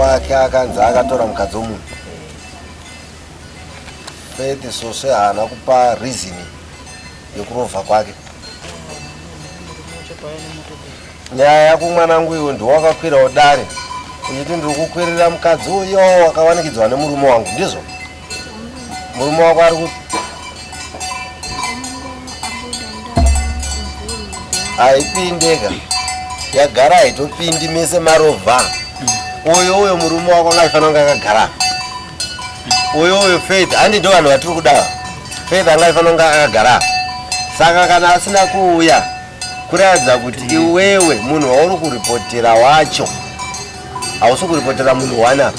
wake akanzi akatora mukadzi womunhu fete soswe haana kupa reasoning yekurovha kwake nyaya yako mwanangu iwe ndiwakakwirawo dare uchiti ndiri kukwirira mukadzi uyo wakawanikidzwa nemurume wangu ndizvo murume wako ari ku haipindeka yagara haitopindi mese marovha uyo uyo murume wako ngaifanira kunge akagara uyo uyo faith handi ndo vanhu vatiri kudawa faith anga ifanonga akagara saka kana asina kuuya kuratidza kuti iwewe munhu wauri kuripotera wacho hausi kuripotera munhu wanapa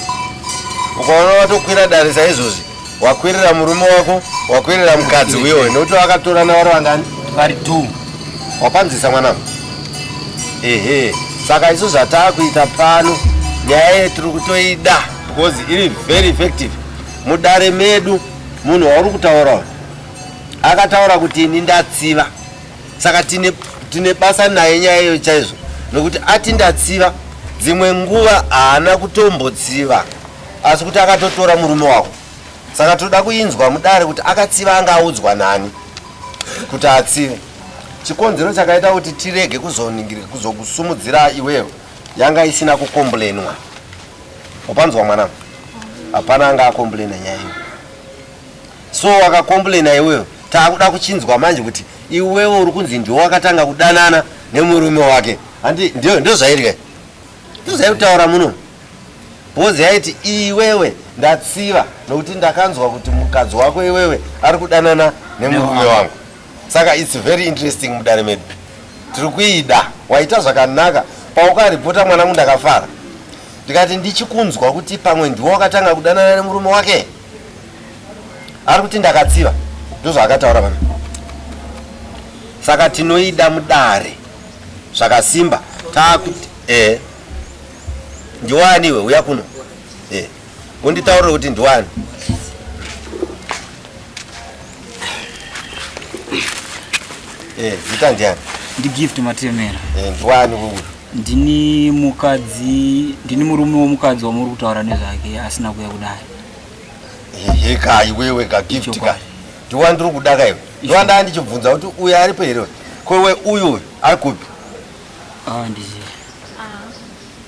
ukaona watokwira dare saizvozvi wakwirira murume wako wakwirira mukadzi uyowe nokuti vakatorana vari vangani vari t wapanzisa mwana ehe saka isu zvataakuita pano nyaya yetiri kutoida because iri very effective mudare medu munhu wauri kutaurawo akataura kuti ini ndatsiva saka tine, tine basa naye nyaya iyo chaizvo nokuti ati ndatsiva dzimwe nguva haana kutombotsiva asi kuti akatotora murume wako saka toda kuinzwa mudare kuti akatsiva anga audzwa nani kuti atsive chikonzero chakaita kuti tirege kuzokusumudzira iweyo yanga isina kukomblenwa wapanzwa mwanangu hapana anga akomplaina nyaya iyo so wakakomplaina iweyo taakuda kuchinzwa manje kuti iwewe uri kunzi ndiwo wakatanga kudanana nemurume wake handi ndozvairika ndozvairi kutaura muno bhozi yaiti iwewe ndatsiva nokuti ndakanzwa kuti mukadzi wako iwewe ari kudanana nemurume wangu saka its very interesting mudare medu tiri kuida waita zvakanaka paukaripota mwanangu ndakafara ndikati ndichikunzwa kuti pamwe ndiwo wakatanga kudanana nemurume wake ari kuti ndakatsiva ndozvaakataura vana saka tinoida mudare zvakasimba taakuti e eh, ndiwaniwe uya kuno e eh. Munditaurire kuti ndiwani. Eh, zita ndiani? Ndi Gift Matemera. Eh, ndiwani uyu? Ndini mukadzi, ndini murume womukadzi wamuri kutaura nezvake asina kuya kudai. Hehe ka iwewe ka Gift ka. Ndiwani ndiri kuda ka iwe. Ndiwani ndanga ndichibvunza kuti uyu aripo here? Ko iwe uyu ari kupi? Ah, ndiziva.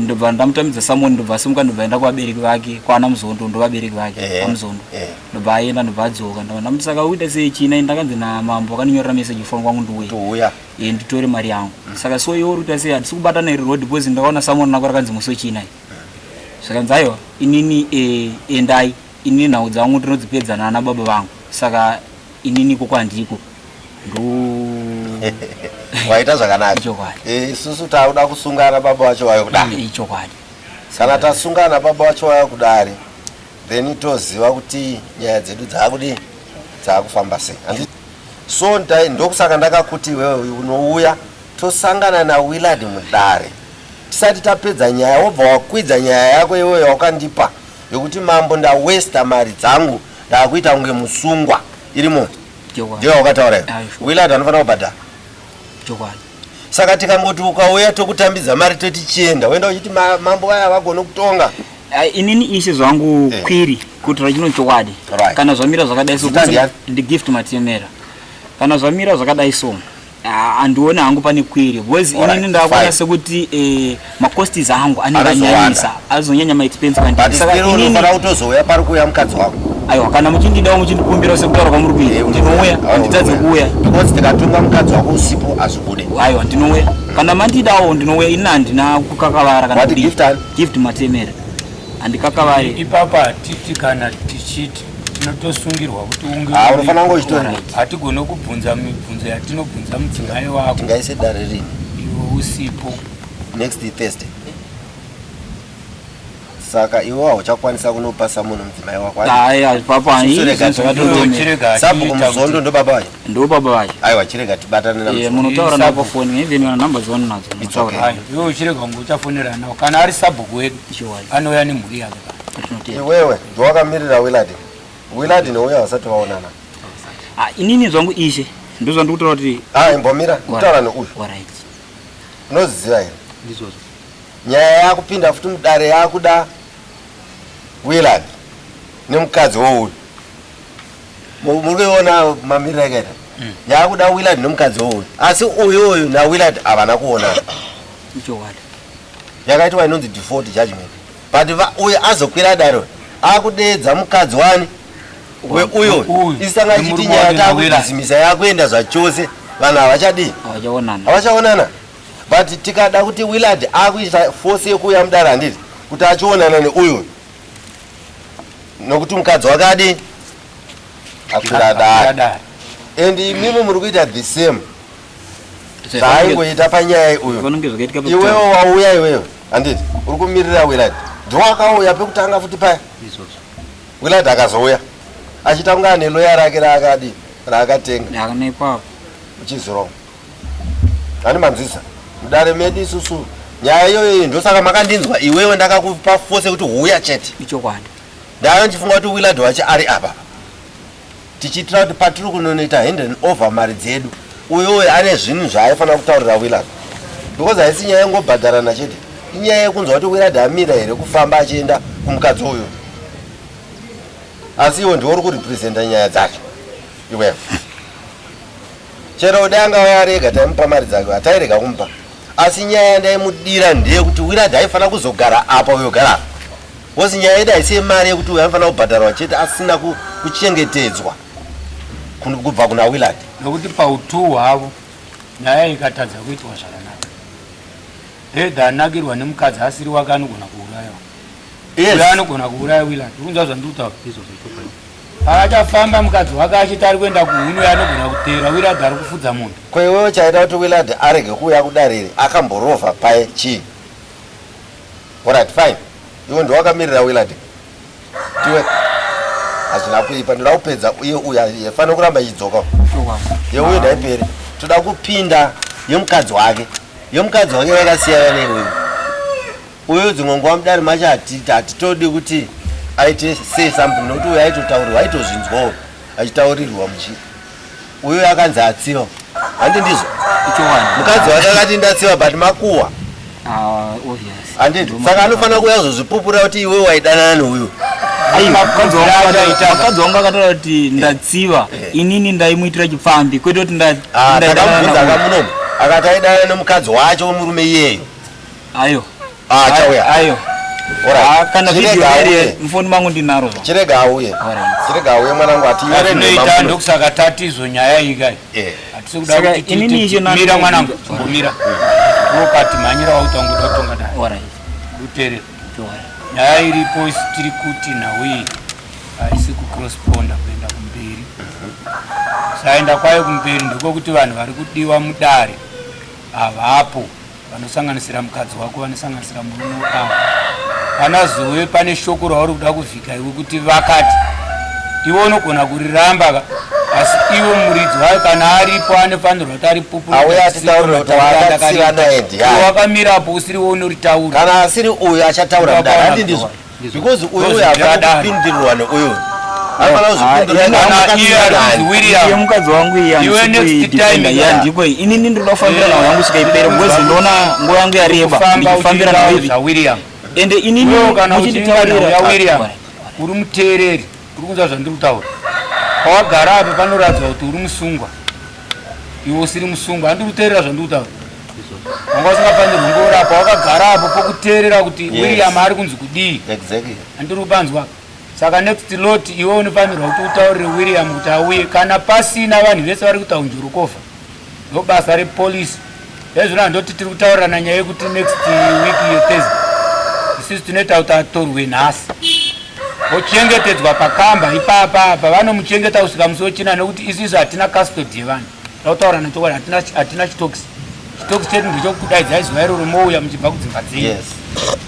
ndobva ndamutamidza samoni ndobva asimuka ndobva aenda kuvabereki vake kwana muzondo ndovabereki vake eh, kwamuzondo eh. ndobva aenda ndobva adzoka ndobva ndamuti saka uita sei china ndakanzi namambo akandinyorera meseji foni kwangu ndiuya e nditore mari yangu mm. saka so iwe uri kuita sei hatisi kubatana iri road because ndakaona samoni nako rakanzi musi wechina zvakanzi mm. aiwa inini e, endai inini nhau dzangu ndinodzipedza naana baba vangu saka inini ko kwandiko ndo waita zvakanaka ichokwadi eh, isusu tauda kusungana baba wacho wayo kudari mm, ichokwadi kana tasungana baba wacho wayo kudari then toziva kuti nyaya dzedu dzakudi dzakufamba sei so ndai ndokusaka ndakakuti iwewe unouya tosangana nawillard mudare tisati tapedza nyaya wobva wakwidza nyaya yako iweyo wakandipa yokuti mambo ndawesta mari dzangu Ndakuita kunge musungwa irimo. Ndiyo wakataura iwe. Willard anofanira kubhadhara. Chokwadi. Saka tikangoti ukauya tokutambidza mari toti chienda woenda uchiti mambo vaya vagone kutonga. Uh, inini isi zvangu hey. Eh. kwiri kuti rachino chokwadi right. kana zvamira zvakadai so ndi gift matemera kana zvamira zvakadai so Ah, andione hangu pane kwiri because Alright, inini ndakuona fine. sekuti eh, macostis angu anenge Anozowanda. anyanyisa azonyanya maexpense but kwandiri saka still inini unofanira kutozouya pari kuuya mukadzi wako aiwa kana muchindidawo muchindikumbirawo sekutaura kwamuri kuita Eh, ndinouya Ah, handitadze unouya. kuuya because tikatunga mukadzi wako usipo hazvibude aiwa ndinouya kana mandidawo ndinouya ini handina kukakavara kana Wati kudii. gift ani? gift matemere handikakavare ipapa hatiti kana tichiti tinotosungirwa kuti unge ah, unofanira kunge uchitori hatigone kubvunza mibvunzo yatinobvunza mudzimai wako tingaise dare rini iwe usipo next thursday saka iwe hauchakwanisa kunopasa munhu mudzimai wakosabuku muzondo ndo baba vacho ndo baba vacho aiwa chirega tibatane namunotaura eh, navo foni even kana number dzavano nadzo iwe uchirega kunge uchafonerana kana ari sabhuku wedu anouya nemhuri yake iwewe Ndowakamirira Willard. Willard neuyo havasati vaonana. Ah, inini zvangu ishe ndozvandikutaura kuti ah, imbomira kutaura neuyu unoziziva here nyaya yakupinda futi mudare yakuda willard nemukadzi wouyu muri kuiona mamiriro akaita mm. yakuda willard nemukadzi wouyu asi uyu uyu nawillard havana kuonana yakaitwa inonzi default judgment But va uyo azokwira adaro akudeedza mukadzi wani we uyo isanga chiti nyaya takuzimisa yakuenda zvachose vanhu havachadii havachaonana but tikada kuti willard akuita force yekuuya mudara handiti kuti achionana neuyo nokuti mukadzi wake adii akwira adaro and imimi muri kuita the same zvaangoita panyaya uyo iwewo wauya iweyo handiti uri kumirira willad ndowakauya pekutanga futi paya willad akazouya achitanga ane loya rake raakadi raakatenga uchizirova ani manzwisa mudare medu isusu nyaya iyoyo iyi ndosaka makandinzwa iwewe ndakakupa fose kuti huya chete ichokwadi ndayo ndichifunga kuti willad wacho ari apa tichiitira kuti patiri kunonoita hand and over mari dzedu uyo uyo ane zvinhu zvaaifanira kutaurira willard because haisi nyaya yengobhadharana chete inyaya yekunzwa kuti willard amira here kufamba achienda kumukadzi uyo asi iwo ndiwo uri kurepresenta nyaya dzacho iwevo chero ude angava arega taimupa mari dzake hatairega kumupa asi nyaya yandaimudira ndeyekuti willard aifanira kuzogara apa uyogara apa Because nyaya yedu haisi yemari yekuti uyo anofanira kubhadharwa chete asina kuchengetedzwa kubva kuna Willard. Nokuti pautuu hwavo nyaya ikatadza kuitwa zvakanaka. Head anakirwa nemukadzi asiri wake anogona kuuraiwa. Yes. Uyo anogona kuuraya Willard. Unza zvandiri kutaura izvo zvechokwadi. Akachafamba mukadzi wake achiti ari kuenda kuhunu yanogona kuteera Willard ari kufudza munhu. Ko iwewe chaita kuti Willard arege kuuya kudariri akamborova paye chii? Alright fine. Iwe ndiwe wakamirira Willard. Tiwe hazvina kuipa ndoda kupedza uye uye haifanira kuramba ichidzoka. Yeuye ndaiperi. Toda kupinda yemukadzi wake. Yemukadzi wake yakasiyana newe. Uye dzimwe nguva mudari macho hatitodi kuti aite say something nokuti uye aitotaurirwa aitozvinzwawo achitaurirwa muchi Uyu akanzi atsiva. Handi ndizvo. Mukadzi wake akati ndatsiva but makuwa. Ah, obvious. Handi saka anofanira kuuya kuzozvipupura kuti iwe waidanana neuyu. Vakadzi wangu akataura kuti ndatsiva eh. inini ndaimuitira chipfambi kwete kuti ndaidanana. Ah, akamunomu akati aidana nemukadzi wacho wemurume iyeyo. Ayo. Ah, chauya. Ayo. Ora. Ah, kana video here mfoni mangu ndinaro. Chirega auye. Chirega auye mwana wangu ati yare nei tando kusaka tatizo nyaya iyi kai. Eh. Atisi kuda kuti titi. Mira mwana wangu. Mira. Rokati manyira wautonga utonga dai. Ora. Utere. Ora. Nyaya iripo isitiri kuti nhau iyi haisi kucrossponda kuenda kumberi. Saenda kwayo kumberi ndiko kuti vanhu vari kudiwa mudare. Havapo. vanosanganisira mukadzi wako vanosanganisira murume wako kana zove pane shoko rauri kuda kuvhika iwe kuti vakati iwe unogona kuriramba ka asi iwe muridzi wayo kana aripo anofanirwa kuti aripupuraakamirapo usiri we unoritaura kana asiri uyo achataura kudai handindizvo because uyu uyu hafana kupindirwa neuyu mukadzi wangu iyandiko inini ndinoda kufambira nawo yangu svika ipere because ndinoona nguva yangu yareba ndichifambira nawo ende inini muchinditaurira uri muteereri Uri kunzwa zvandiri kutaura? Pawagara apa panoradzwa kuti uri musungwa. Iwe usiri musungwa. Andiri kuteerera zvandiri kutaura. Wanga usingafanirwi kunge uri apa. Wakagara apo pokuteerera kuti yes. William ari kunzi kudii. Exactly. Andiri kupanzwa apa saka next lot iwe unofanirwa kuti utaurire william kuti auye kana pasina vanhu vese vari kutaunjurukofa Ndobasa repolice ezvino handoti tiri kutaurirana nyaya yekuti next week yethes isisu tinoita kuti atorwe nhasi ochengetedzwa pakamba ipapa apa vanomuchengeta kusvika musi wechina nekuti isisu hatina custody yevanhu takutaurirana chokwadi hatina chitox chitox chedu ndechokudaidzai zuva iroro mouya muchibva kudzimba dzenyu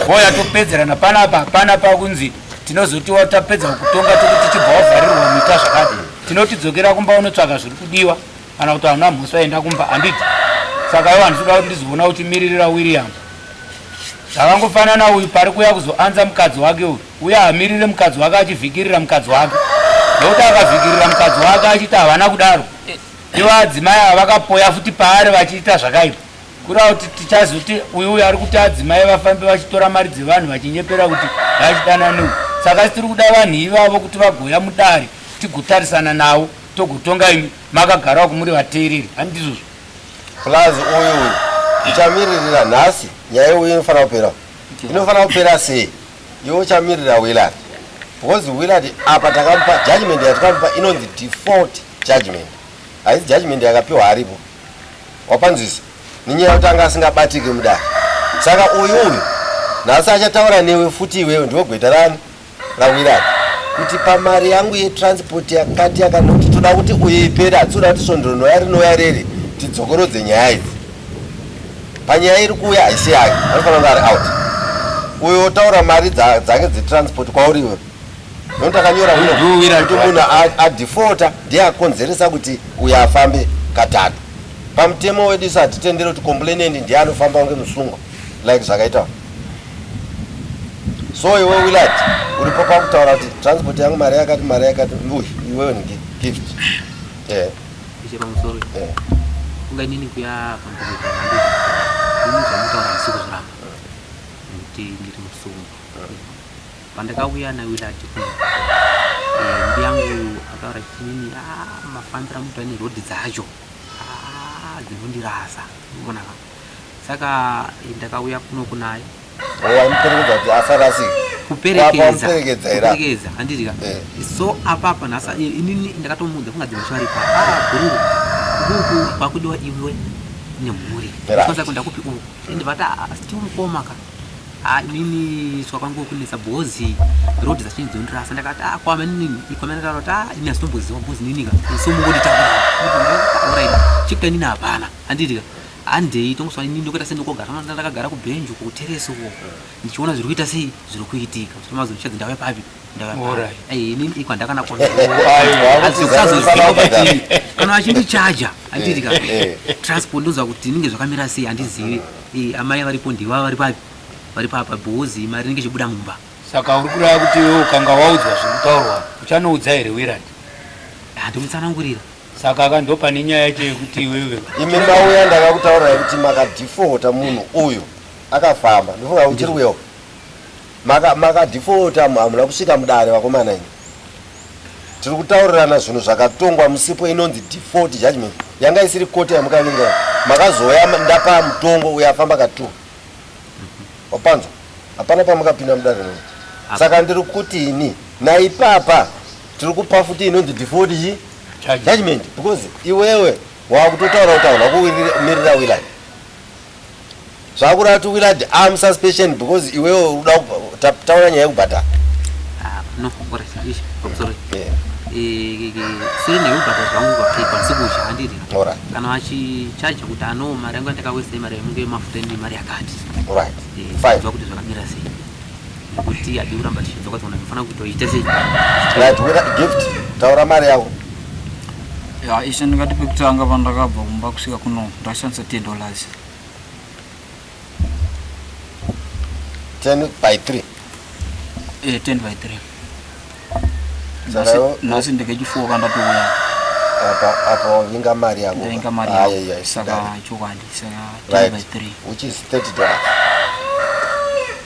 oya topedzerana panapa hapana pakunzi tinozotiwa tapedza kutonga tokuti chibva wavharirwa muita zvakadi tinotidzokera kumba unotsvaga zviri kudiwa kana kuti vanhu vamhosi vaenda kumba handiti saka ivo handisi kuda kuti ndizoona kuti miririra william zvakangofanana uyu pari kuya kuzoanza mukadzi wake uyu uye hamirire mukadzi wake achivhikirira mukadzi wake nokuti akavhikirira mukadzi wake achiti havana kudaro ivo adzimai ava vakapoya futi paari vachiita zvakaipa kuda kuti tichazoti uyu uyu ari kuti adzimai vafambe vachitora mari dzevanhu vachinyepera kuti vachidananeu saka tiri kuda vanhu ivavo kuti vagoya mudare tigotarisana navo Togotonga imi makagara uku muri vateereri handizvozvo. Plus uyu uyu uchamiririra nhasi nyaya uyu inofanira kupera inofanira kupera sei iwe uchamirira Willard because Willard apa takamupa judgment yatakamupa inonzi default judgment haisi judgment yakapiwa aripo wapanzwisa nenyaya yekuti anga asingabatiki mudare saka uyu uyu nhasi achataura newe futi iwewe ndiwe gweta rani Rawira kuti pamari yangu yetransport yakati yakati kuti toda kuti uye ipere hatsoda kuti svondo rinouya rinouya reri tidzokorodze nyaya idzi panyaya iri kuuya haisi yake anofanira kunge ari out uyo otaura mari dzake dzetransport kwauri iwe nokuti akanyora unokuti munhu adefota ndiye akonzeresa kuti uyo afambe katatu pamutemo wedu isu hatitendere kuti komplainend ndiye anofamba kunge musungwa like zvakaita so iwe willard uripo pakutaura kuti transport yangu mari yakati mari yakati uy iwewe ni gift eh. eh. ungainini kuya pamuzvamutaura msiku zviramba kuti ndiri musungu pandakauya nawillard kuno eh, mbi yangu ataura chinini ah, mafambira mutu ane rhodhi dzacho ah, dzinondirasa unoona ka saka ndakauya kuno kunaye waimuperekedza kuti asarasike kuperekedza kuperekedza handiti ka eh. so apapa nhasa inini ndakatomuudza kunga dzimwe chwari pa ah, gururu kuku kwakudiwa iwe nemhuri kwanza kuenda kupi uku and vati sti ah, mukoma ka ah, inini swa kwangu kunetsa bhozi road dzachini dzondirasa ndakati a kwame nini ikwamene taura kuti a ini asitomboziwa bhozi nini ka so mungonditaura chikuta inini hapana Handiti ka handei tongoswa ini ndokuita sei ndokogara manda ndakagara kubhenji uko kuteresi uko ndichiona zviri kuita sei zviri kuitika kuti mazo ndichadzi ndave papi ndave papi Alright. Eh, ini iko handakana kuona hazikusazoziva kuti kana vachindichaja handiti ka Eh, transport ndonzwa kuti inenge zvakamira sei handizivi Eh, amai varipo ndiva vari papi vari papa bhozi mari inenge ichibuda mumba saka uri kureva kuti iwe ukanga waudzwa zviri kutaurwa uchanoudza here wirandi handimutsanangurira saka ka ndopane nyaya yacho yekuti iwewe imi mauya ndakakutaurirai kuti makadhifota munhu uyu akafamba ndofunga uchiri kuyewo makadhifota hamuna kusvika mudare vakomana ini tiri kutaurirana zvinhu zvakatongwa musipo inonzi default judgment yanga isiri koti yamukavinga makazouya ndapa mutongo uyo afamba katu wapanzwa hapana pamukapinda mudare noo saka ndiri kuti ini naipapa tiri kupa futi inonzi default chi judgment because iwewe wakutotaura kutaura wakumirira willard zvakureva kuti willard am suspension because iwewe uda taura nyaya yekubhadhara ah, no ora ishi i'm sorry yeah siri nekubhata zvangu kwakaipa sikuzha handiri kana vachichaja kuti ano mari yangu yandakawesa imari yangu yemafuta ine mari yakati zva kuti zvakamira sei kuti hadi kuramba tichidzoka tsoona tinofanira kutoita sei right wera gift taura mari yavo ya ishe ndingati pekutanga pandakabva kumba kusvika kuno ndashandisa ten dollars ten by three e ten by three nhasi ndikechifuwo kandatiuya apo vinga mari yavo ndainga mari yavo saka chokwadi saka ten by three which is thirty dollars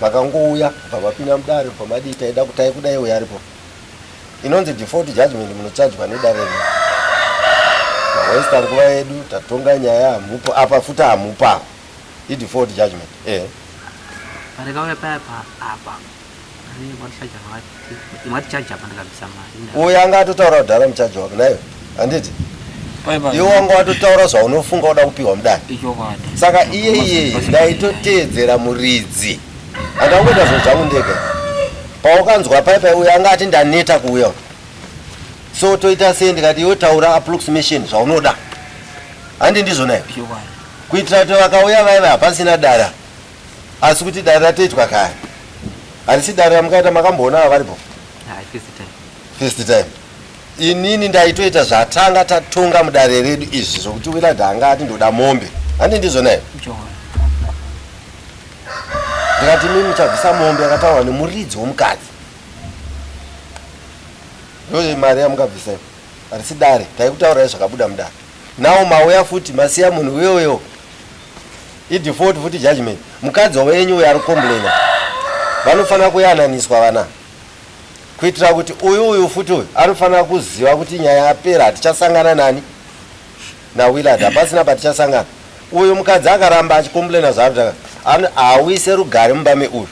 Vakangouya bva vapinda mudare bva madii taida kutai kuda iwe aripo inonzi default judgment munochajwa nedare rino mawaista nguva yedu tatonga nyaya hamupo apa futi hamupa idefault judgment eh parakauya paya apa apa rine vachaja vacho Mwati charge apa ndakabvisa mari. Uyu anga atotaura kudhara muchaji wako naiwe. Handiti? Iwe wanga watotaura zvaunofunga uda kupihwa mudare. Saka iye iye ndaitoteedzera muridzi. Andangoita zvinhu zvangu ndega. Paukanzwa pai pai uyu anga ati ndaneta kuuya. So toita sei ndikati iwe taura approximation zvaunoda. Handi ndizvo naye. Kuitira kuti vakauya vaiva hapasina dara. Asi kuti dare ratoitwa kare. Harisi dare ramukaita makamboona ava varipo? Hayi first time. First time. Inini ndaitoita zvatanga tatonga mudare redu izvi zvokuti wina danga ati ndoda mombe. Handi ndizvo naye? John. Ndikati mimi muchabvisa mombe yakataurwa nemuridzi womukadzi. Ndoye mari yamukabvisa iyo. Harisi dare. Taikutaurai zvakabuda mudare. Now mauya futi masiya munhu uyoyo. I default futi judgment. Mukadzi wenyu uyo ari complainer vanofanira kuyananiswa vana kuitira kuti uyu uyu futi uyu anofanira kuziva kuti nyaya yapera hatichasangana nani nawillard hapasina patichasangana uyu mukadzi akaramba achicomplaina zvaari hauise rugare mumba meuyu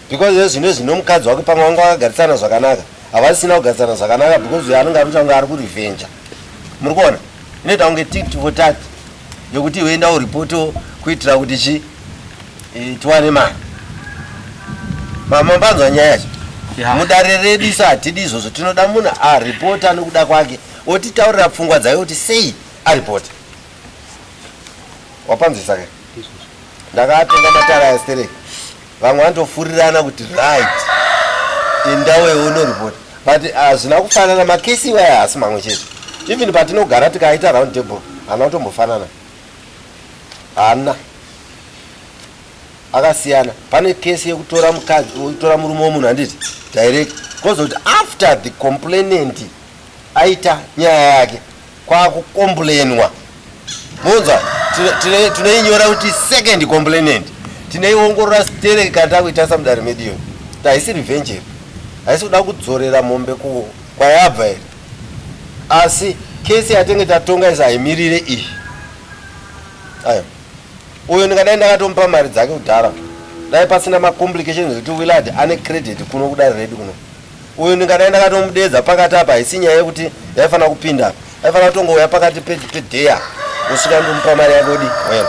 because iye zvino izvi nomukadzi wake pamwe vanga vakagarisana zvakanaka havasisina kugarisana zvakanaka because uyo anenge anoita kunge ari kurevenja muri kuona inoita kunge tit for tat yokuti iwe enda uripoto kuitira kuti chi e, tiwane mari mamambanzwa nyaya yacho mudare redu isu hatidi izvozvo tinoda munhu aripota anokuda kwake otitaurira pfungwa dzayo kuti sei aripota wapanzwisa ke ndakatenga matara ya sterek vamwe vanotofurirana kuti right indawewo unoripoti but hazvina ah, kufanana makesi iwaya haasi mamwe chete even patinogara tikaita round table haana kutombofanana haana akasiyana pane kesi yekutora mukadzi kutora murume womunhu handiti direct kozoti after the complainant aita nyaya yake kwakukomblenwa munzwa tinoinyora kuti second complainant tinoiongorora stereki kana takuitasa mudare medu iyo haisi revenge here haisi kuda kudzorera mombe kwayabva here asi kesi yatenge tatonga izi haimirire iyi ayo uyo ndingadai ndakatomupa mari dzake kudhara dai pasina macomplications ekuti willard ane credit kuno kudare redu kuno uyu ndingadai ndakatomudeedza pakati apa haisi nyaya yekuti yaifanira kupinda apa aifanira kutongouya pakati pedeya kusvika ndomupa mari yake udi well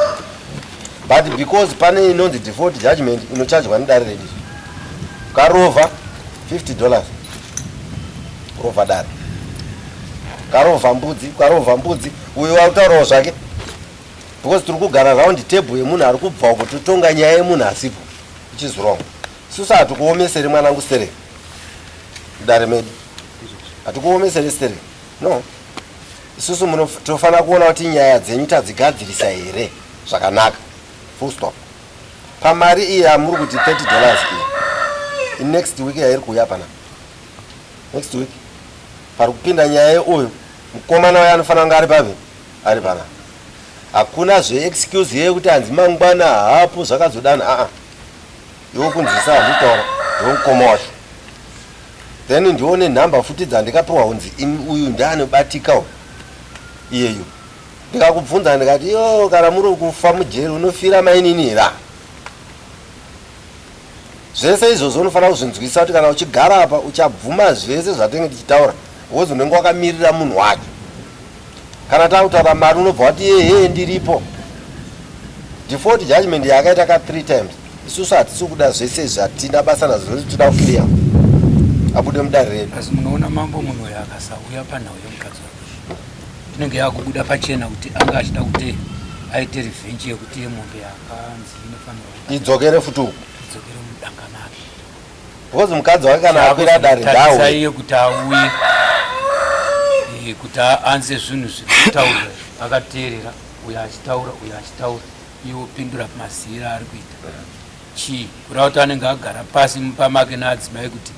but because pane inonzi default judgment inochajwa nedare redi karova 50 dollars kurova dare karova mbudzi karova mbudzi uyo wautaurawo zvake because tiri kugara round table yemunhu ari kubva uko totonga nyaya yemunhu asipo ichizwrong Susa hatukuomesere mwanangu sere mudare medu hatukuomesere sere no isusu tinofanira kuona kuti nyaya dzenyu tadzigadzirisa here zvakanaka full stop pamari iyi amuri kuti 30 dollars iyi next week yairi kuuya pana next week pari kupinda nyaya yeuyu mukomana waye anofanira kunge ari pavi ari pana hakuna zveexcuse yeye kuti hanzi mangwana hapo zvakazodana aa ah, ah. iwo kunzwisa handitaura ndewemukoma wacho then ndione nhamba futi dzandikapiwa hunzi in uyu ndianobatika u iyeyu ndikakubvunza ndikati yo kana muri kufa mujeri unofira mainini hira zvese izvozvo unofanira kuzvinzwisa kuti kana uchigara apa uchabvuma zvese zvatenge tichitaura wozi unenge wakamirira munhu wacho Kana takutaura mari unobva wati yehee ndiripo. Default judgment yakaita ka three times isusu hatisi kuda zvese izvi hatina basa nazvo zvese tinoda kuclear abude mudare redu. Asi munoona mambo munhu uyo akasauya panhau yemukadzi wake inenge yakubuda pachena kuti anga achida kuti aite revenge yekuti yemombe yakanzi inofanirwa idzokere futi uku idzokere mudanga make. because mukadzi wake kana akwira dare ndaaiye kuti auye eh, kuti aanze zvinhu zvekutaura akateerera uyo achitaura uyo achitaura iwe upindura mazira ari kuita chii kureva kuti anenge agara pasi mumba make naadzimai kuti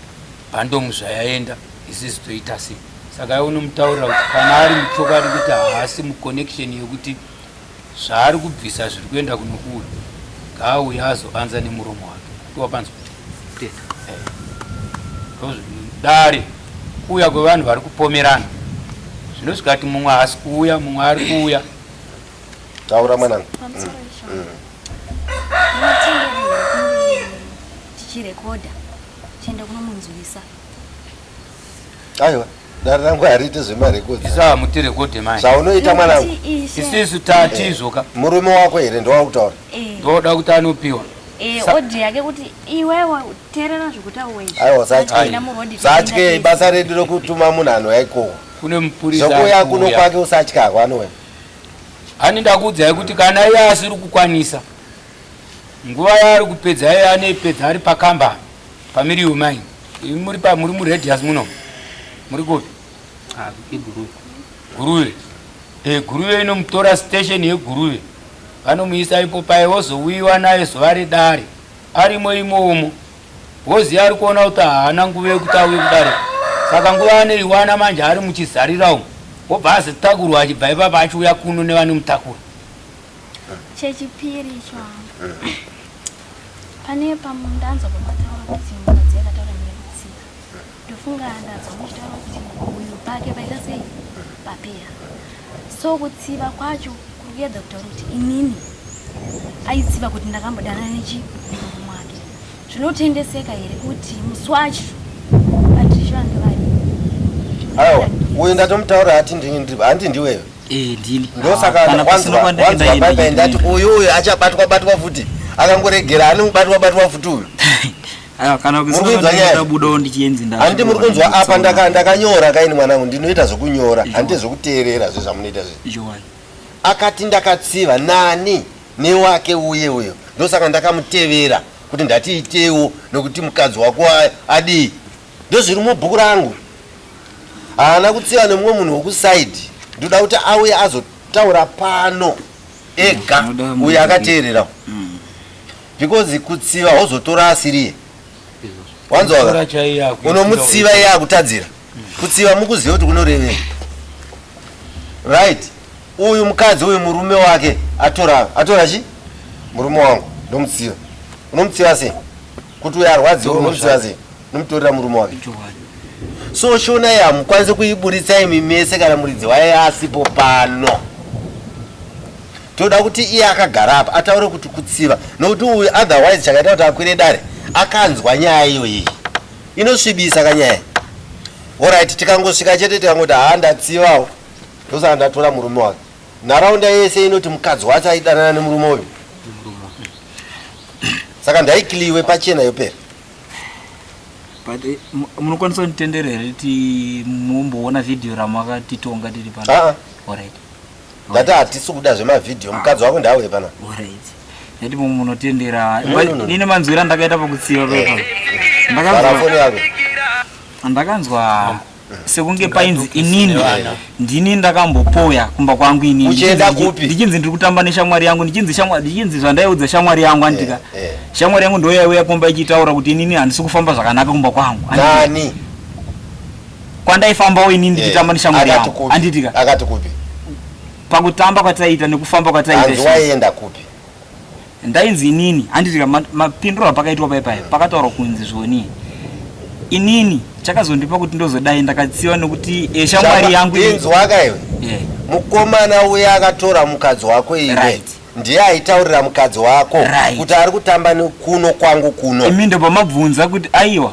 bhandomu zvayaenda isizi toita sei saka iwe unomutaurira kuti kana ari muchokwadi kuti haasi muconnection yekuti Zvaari kubvisa zviri kuenda kunokura ngaauye azoanza nemuromo wake kuti wakanzwa kuteta dare kuuya kwevanhu vari kupomerana zvinosvika kuti mumwe haasi kuuya mumwe ari kuuya taura mwanangu tichirekodha tichienda kunomunzwisa aiwa Dare rangu hariite zvemarekodhi. Isu hamuti rekodhi mai. Zvaunoita mwanangu. Isu isu tati eh, izvoka. Murume wako here ndowakutaura? Eh. Ndoda kuti anopiwa. Eh, odhi yake kuti iwewe terera zvokutaura izvi. Aiwa satya. Satya ibasa redu rokutuma munhu anouya ikoko. Kune mupurisa. Zvokuya kuno kwake usatya kwanowe. Ani ndakuudzai kuti kana iye asiri kukwanisa Nguva yaari kupedza yeye anoipedza ari pakamba paMiriu mine. Imi muri pa muri muradius muno. Muri kupi? Ah, iguruve. Guruve. Eh, guruve inomutora station yeguruve. Vanomuisa ipo paye wozouyiwa naye zuva redare. Arimo imomo. Wozi ari kuona kuti haana nguva yekuti auye kudare. Saka nguva anoiwana manje ari muchizarira umu. Wobva azitakurwa achibva ipapa achiuya kuno nevanomutakura. chechipiri icho hangu pane pamwe ndanzwa pamataura kuti mukadzi akataura nekutsika ndofunga ndanzwa muchitaura kuti uyu pake paita sei papeya so kutsiva kwacho kuri kuyedza kutaura kuti inini aitsiva kuti ndakambodanana nechimurume mwake zvinotendeseka here kuti musi wacho patricia ndivari aiwa uyu ndatomutaura hati ndini handi ndiwewe Eh, ndini. Ah, ndosaka kana wanzwa pasina kwandiri wanzwa ndaenda bye bye ndini. ndati uyu uyu achabatwa batwa futi akangoregera anobatwa batwa futi uyu Aiwa, kana Muri kusina kuinzwa kwandiri nyaya? ndabudawo ndichienzi nda- handi muri kunzwa apa Tsaona. ndaka- ndakanyora kaini mwanangu ndinoita zvekunyora Izvo. handi zvekuteerera zve zvamunoita zve Izvowani. akati ndakatsiva nani newake uye uyo ndosaka ndakamutevera kuti ndatiitewo nokuti mukadzi wako a- adii Ndozviri mubhuku rangu. Haana kutsiva nemumwe munhu wokusaidhi. Ndoda kuti auye azotaura pano ega uyo akateerera. Mm. Because kutsiva wozotora asiriye. Wanzwa? Unomutsiva iye akutadzira. Mm. Kutsiva mukuziva kuti kunorevei. Right? Uyu mukadzi uyu murume wake atora atora chi? Murume wangu ndomutsiva. Unomutsiva sei? kuti uyo arwadziwa unomuziva sei nomutorera murume wake so shona iyi hamukwanise kuiburitsa imi mese kana muridzi waye asipo pano toda kuti iye akagara apa ataure kuti kutsiva nokuti uyu otherwise chakaita kuti akwire dare akanzwa nyaya iyo iyi inosvibisa kanyaya orit tikangosvika chete tikangoti haa ndatsivawo ndosaka ndatora murume wake Nharaunda yese inoti mukadzi wacho aidanana nemurume uyu. Saka ndaikliwe pachena yopera. But eh, mu- munokwanisa kunditendera here kuti mumboona vhidhiyo ramakatitonga tiri pano? Ah, Alright. ndati hatisi kuda zvemavhidhiyo mukadzi wako ndauye pana. Alright. Nekuti mumwe munotendera. No, no, no. Nine manzwira ndakaita pakutsiva pepa. Vhara foni Ndakanzwa yako. ndakanzwa sekunge painzi inini ndini ndakambopoya kumba kwangu inini uchenda kupi ndichinzi ndiri kutamba neshamwari yangu ndichinzi shamwari ndichinzi zvandaiudza shamwari yangu andika eh, eh. shamwari yangu ndoya uya kumba ichitaura kuti inini handisi kufamba zvakanaka kumba kwangu nani kwandaifambawo inini eh, ndichitamba neshamwari yangu anditika akati kupi pakutamba kwataiita nekufamba kwataiita hanzi waienda kupi ndainzi inini handitika mapindura pakaitwa pai paya pakataurwa kunzi zvoni inini chakazondipa kuti ndozodai ndakatsiva nekuti eh, shamwari yangu inzwaka iwe eh. mukomana uya akatora mukadzi wako iwe right ndiye aitaurira mukadzi wako right. kuti ari kutamba kuno kwangu kuno imi ndobva mabvunza kuti aiwa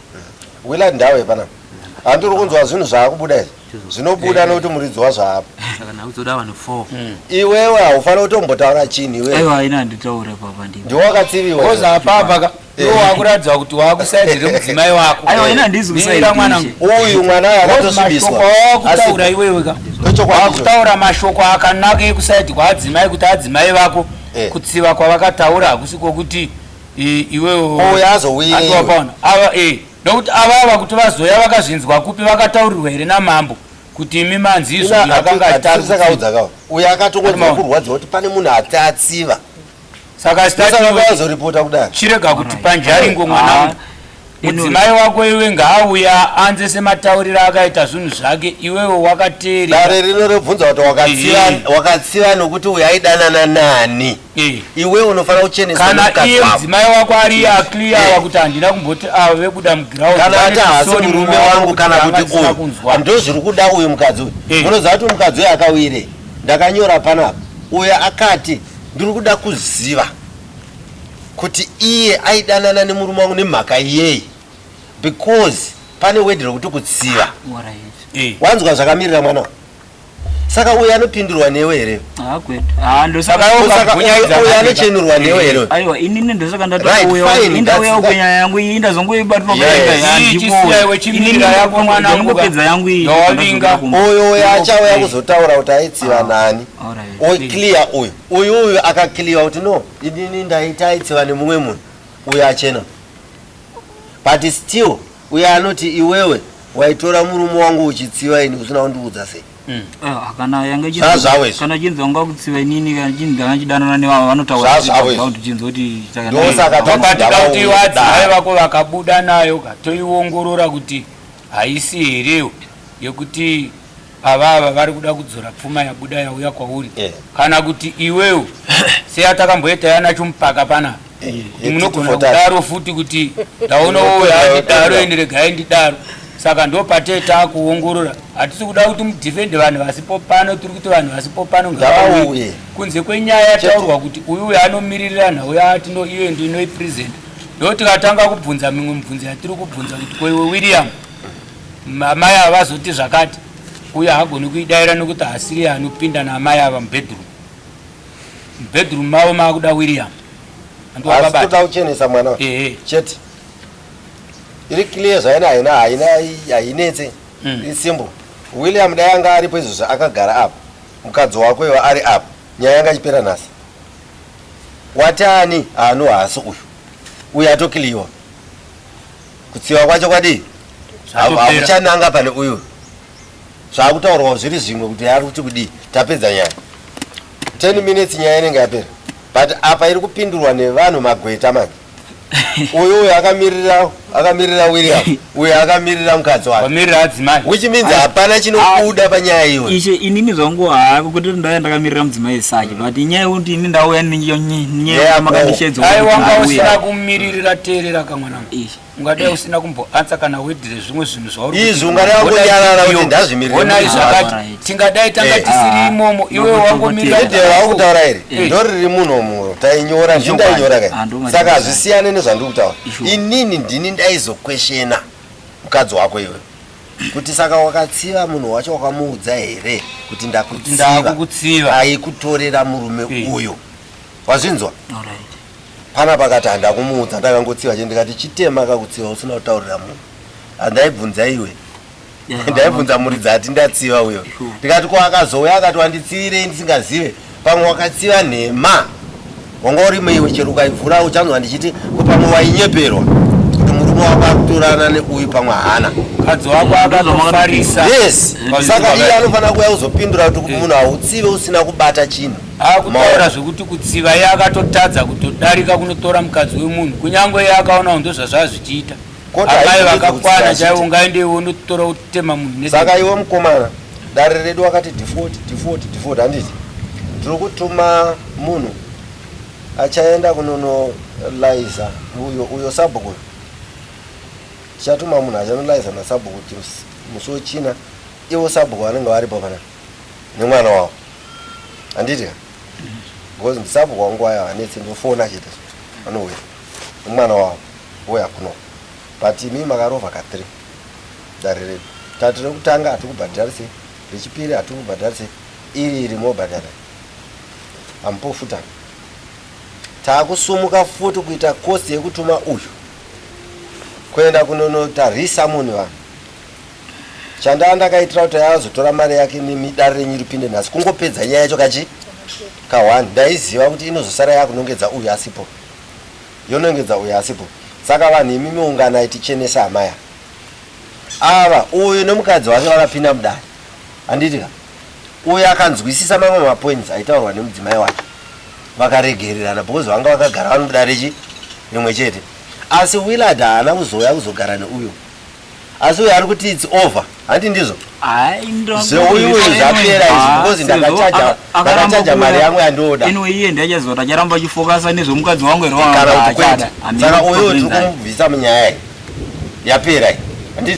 Willard ndawe pana handiri kunzwa zvinhu zvaakubuda izvi zvinobuda nekuti muridzi wazvo haapo saka nhau dzoda vanhu four iwewe haufanira kutombotaura chinhu iwewe aiwa haina handitaure papa ndini ndiwe wakatsiviwa kozi apapa ka Eh. iwo wakuratidza kuti wakusaidi remudzimai wako aiwa haina handizi Mirira kusaida mwana ndishe. uyu mwana uyu Kozi mashoko akatosvibiswa awakutaura iwewe ka ndochokwadi wakutaura mashoko akanaka ekusaidi kwaadzimai kuti adzimai vako Eh. kutsiva kwavakataura hakusi kwokuti iwewo azowirewapaona ava e nokuti ava ava kuti vazoya vakazvinzwa kupi vakataurirwa here namambo kuti imi manzi izvo akanga achitarusakaudzakao uyo akatongonzwa kurwadziwa kuti pane munhu atatsiva saka zitazoripota kudai chirega kuti panjaringo mwana ah. Mudzimai wako iwe ngaauya anze sematauriro akaita zvinhu zvake iwewe wakateere. Dare rino rebvunza kuti wakatsiva eh. wakatsiva nokuti uyu aidanana nani. Eh. Iwe unofanira kuchenesa kana iye mudzimai wako ari eh. aclear eh. kuti handina kumboti avo ah, vekuda muground. Kana ati haasi murume wangu kana kuti uyu ndozviri kuda uyu mukadzi uyu. Eh. Munoziva kuti mukadzi uyu akawire ndakanyora panapa uyu akati ndiri kuda kuziva kuti iye aidanana nemurume wangu nemhaka yei because pane word rekuti kutsiva eh. wanzwa zvakamirira mwana saka uyo anopindurwa newe here anochenurwa newe hereaiwainindosakandatouyaunyaya yangu iyi ndazongoibatwapedza yangu iyioyo uyo achauya kuzotaura kuti aitsiva ah, nani clear uyo Uyu uyu akakiliwa kuti no inini ndaita aitsiva nemumwe munhu uyo achena but still uyo anoti iwewe waitora murume wangu uchitsiva ini usina kundiudza sei mm. ah, kana yanga zvazvawekana chinzi wanga kutsiva inini kana chinzi ndanga chidanana nevavo vanotauraachinzi kuti ndosakaatikauti vadzimai vako vakabuda nayo katoiongorora kuti haisi here yekuti avava vari kuda kudzora pfuma yabuda yauya kwauri yeah. kana kuti iwewo seyatakamboita yana chumupaka panapa eh, kuti munogona kudaro futi kuti ndaona woyandidaro ende regai ndidaro saka ndo patee taakuongorora hatisi kuda kuti mudhifende vanhu vasipo pano tiri kuti vanhu vasipo pano ngavauye kunze kwenyaya yataurwa kuti uyu uyo anomiririra nhau yatino iyo ndo inoi present ndotikatanga kubvunza mimwe mibvunzo yatiri kubvunza kuti koiwe william Amai ava vazoti zvakati uye haagoni kuidaira nokuti haasiri anopinda naamai ava mubedroom. Mubedroom mavo maakuda William. Asi toda kuchenesa mwana ehe chete. Iri clear zvaina haina haina hainetse. Mm. It's simple. William dai anga aripo izvozvo akagara apa. Mukadzi wako iwe ari apa. Nyaya yanga ichipera nhasi. Watani haano haasi uyu. Uyu atokiliwa. kutsiwa kwacho kwadii hakuchananga pane uyu zvakutaurwa zviri zvimwe kuti ari kuti kudii tapedza nyaya 10 minutes nyaya inenge yapera but apa iri kupindurwa nevanhu magweta manje uyu uyu akamirira akamirira william uyu akamirira mukadzi wakewhich means hapana chinobuda panyaya iwe ishe inini zvangu hako kuti ndaya ndakamirira mudzimai sake but nyaya yekuti ini ndauya nyaya yamakandishedzawanga usina kumiririra teerera kamwana ungadai usina kumboansa kana wedire zvimwe zvinhu zvauriizvi ungadai wangonyarara kuti ndazvimiririonai zvakati tingadai tanga eh, tisiri ah, imomo iwe wangomiriraaukutaura here eh. ndo riri munhu omuro tainyora zvi ndainyora kai saka hazvisiyane nezvandiri kutaura inini ndini ndaizokweshena mukadzi wako iwe kuti saka wakatsiva munhu wacho wakamuudza here kuti ndakutsiva aikutorera murume eh. uyo wazvinzwa Hapana pakati handa kumuudza ndakangotsiva chete ndikati chitema kakutsiva usina kutaurira munhu handaibvunza iwe ndaibvunza muri dzati ndatsiva uyo ndikati ko akazouya akati wanditsivirei ndisingazive pamwe wakatsiva nhema wanga urimo iwe chero ukaivhura uchanzwa ndichiti ko pamwe wainyeperwa kuti murume wako akutorana neuyu pamwe hana mukadzi wako akatofarisa yes saka iye anofanira kuya kuzopindura kuti munhu hautsive usina kubata chinhu akutaura zvekuti kutsiva iye akatotadza kutodarika kunotora mukadzi wemunhu kunyange iye akaonawo ndozvazvaa zvichiita amai vakakwana chaivo ungaendeiwo unotora utema munhu saka iwe mukomana dare redu wakati default default default handiti tiri kutuma munhu achaenda kunonolaiza uyo uyo sabhuku tichatuma munhu achanolaiza nasabhuku musi wechina ivo sabhuku vanenge varipo panapa nemwana wavo handiti because ndisapo kwangu aya anetse ndofona chete anouya nemwana wavo ouya kuno but imi makarova ka three dare redu tati rekutanga hatiri kubhadharise rechipiri hatiri kubhadharise iri iri mobhadhara amupofutana takusumuka futi kuita kosi yekutuma uyu kuenda kunonotarisa munhu vanhu Chandaa ndakaitira kuti azotora mari yake nemi dare renyu ripinde nhasi kungopedza nyaya yacho kachi kahwani ndaiziva kuti inozosara yakunongedza uyu asipo yonongedza uyu asipo saka vanhu imi miunganai tichenese hamaya ava uyu nemukadzi wake vakapinda mudare handiti ka uyu akanzwisisa mamwe mapoints aitaurwa nemudzimai wake vakaregererana because vanga vakagara vari mudare chi rimwe chete asi willard haana kuzouya kuzogara neuyo asi uyo ari kuti its over hanti ndizvo zveuyu uyu zvapera izvi ah, because ndakachaja mari yangu yandooda anyway iye ndiachazota acharamba achifokasa nezvemukadzi wangu here kana kuti kwete saka uyu tiri kumubvisa munyaya iyi yapera iyi